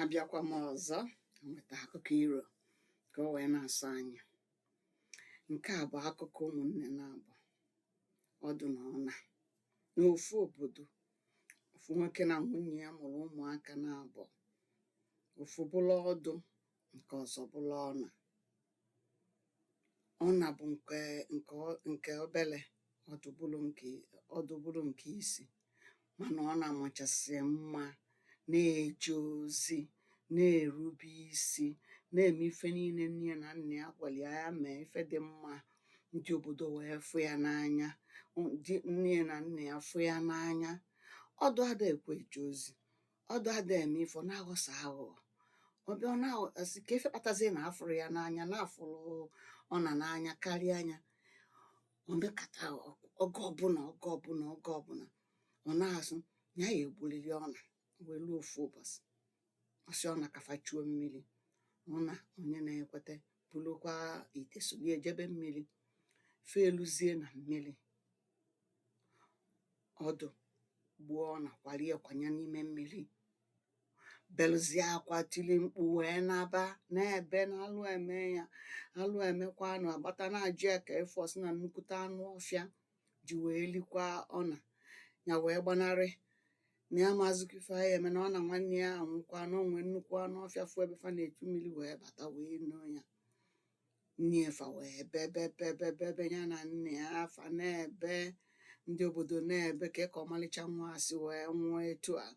abịakwa m ọzọ nweta akụkọ iro ka o wee na-asọ anya nke a bụ akụkọ ụmụnne naabọ ọdụ na ọna n'ofu obodo ofu nwoke na nwunye ya mụrụ ụmụaka naabọ ofu bụlụ ọdụ nke ọzọ bụlụ ọna ọna bụ nke nke nke obere ọdụ bụrụ nke ọdụ bụrụ nke isi mana ọna amachasị mma na-eje ozi na-erube isi na-eme ife niile nne na nna ya gwara ya ya mee ife dị mma ndị obodo wee fụ ya n'anya ndị nne na nna ya fụ ya n'anya ọdụ ada ekwe eje ozi ọdụ ada eme ife ọ na-aghọsa aghụghọ ọ bịa ọ na-asị kee ife kpatazie na a fụrụ ya n'anya na a fụrụ ọna n'anya karịa nya o mekata oge ọbụla oge ọbụla oge ọbụla ọ na-asị ya ya-egburiri ọna wee ruo ofu ụbọchị ọ sị ọna ka fa chuo mmiri ọna onye na-ekweta bulukwa ite solie jebe mmiri fa eluzie na mmiri ọdụ gbuo ọna kwalie kwanye n'ime mmiri beluzie akwa tili mkpu wee naba na-ebe na alụ emee ya alụ emekwanụ a gbata na-ajụ ya kee ife ọ sị na nnukwute anụ ọfịa ji wee likwa ọna ya wee gbanarị na ya amazikwa ife ya-eme na ọna nwanne ya anwụkwa na o nwe nnukwu anụ ọfịa fụ ebe fa na-echu mmiri wee bata wee noo ya nne fa wee bebe bebe bebe ya na nna ya fa na-ebe ndị obodo na-ebe ka ka ọmalịcha nwa a si wee nwụọ etu a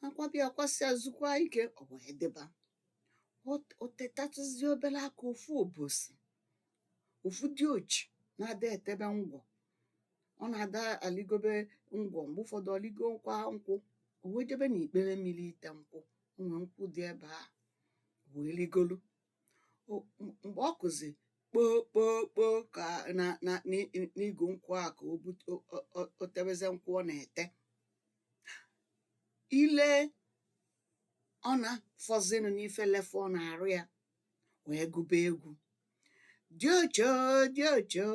a kwaba ya kwasịa zukwa ike ọ wee dịba Ọ- o tetatụzi obere aka ofu ụbọsị ofu diochi na-ada etebe ngwọ ọ na-ada aligobe ngwọ mgbe ụfọdụ o ligokwa nkwụ o wee jebe n'ikpere mmiri ite nkwụ o nwee nkwụ dị ebe a o wee rigolu mgbe ọ kụzị kpoo kpoo kpoo ka na na n'igu nkwụ a ka o bute o tebezie nkwụ ọ na-ete i lee ọna fọzịnụ n'ife lefu ọ na-arụ ya wee gụba egwu diochi o diochi o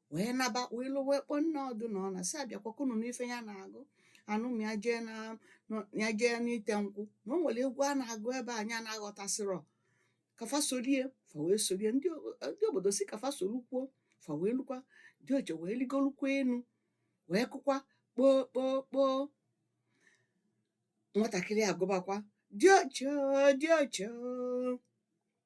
wee naba wee lụ wee kpọọ nne ọdụ na ọna sị bịakwa ka unu nụ ife ya na-agụ anụ ma ya jee na nọ- ya jee n'ite nkwụ na o nwere egwu a na-agụ ebe a ya na-aghọtasịrọ ka fa sorie fa wee sorie ndị o- ndị obodo sị ka fa sorokwuo fa wee lukwa diochi wee ligolukwa enu wee kụkwa kpoo kpoo kpoo nwatakịrị agụbakwa diochi o, diochi o.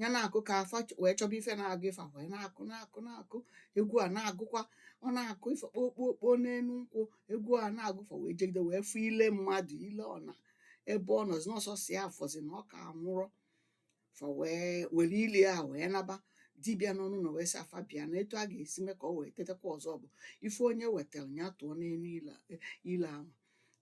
ya na-akụ ka afa ch- wee chọba ife na-agụ ife wee na-akụ na-akụ na-akụ egwu a na-agụkwa ọ na-akụ ife kpokpokpo n'enu nkwụ egwu a na-agụ fa wee jegide wee fụ ile mmadụ ile ọna ebe ọ nọzi na ọ sọsọ ya fọzi na ọ ka nwụrọ fa wee were ile a wee naba dibịa nọ n'ụnọ wee sị afa bịa na etu a ga-esi mee ka ọ wee tetakwa ọzọ bụ ife onye wetalu ya tụọ n'enu ile ile ahụ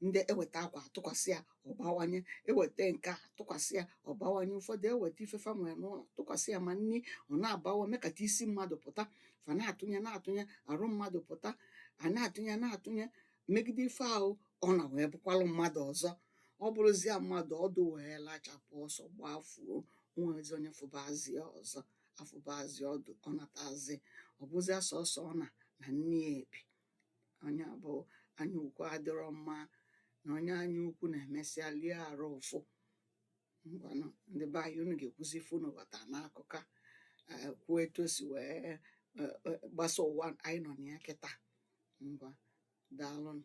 ndị eweta akwa atụkwasị ya ọ bawanye eweta nke a tụkwasị ya ọ bawanye ụfọdụ eweta ife fa nwere n'ụlọ tụkwasị ya ma nri ọ na-abawa mekata isi mmadụ pụta fa na-atụnye na-atụnye arụ mmadụ pụta a na-atụnye na-atụnye megide ife ahụ ọna wee bụkwalụ mmadụ ọzọ ọ bụrụzia mmadụ ọdụ wee lachapụ ọsọ gbafuo o nwezi onye fụbazi ya ọzọ afụbazi ọdụ ọ natazi ọ bụzia sọsọ ọna na nne ya bi nya bụ anya ukwu adịrọ mma na onye anya ukwu na-emesịa lie arụ ụfụ ngwanụ ndị be anyị unu ga-ekwuzi ife unu ghọta n'akụkọ a eh, kwuo etu o si wee eh, eh, gbasa ụwa anyị nọ na ya kịta ngwa daalụnụ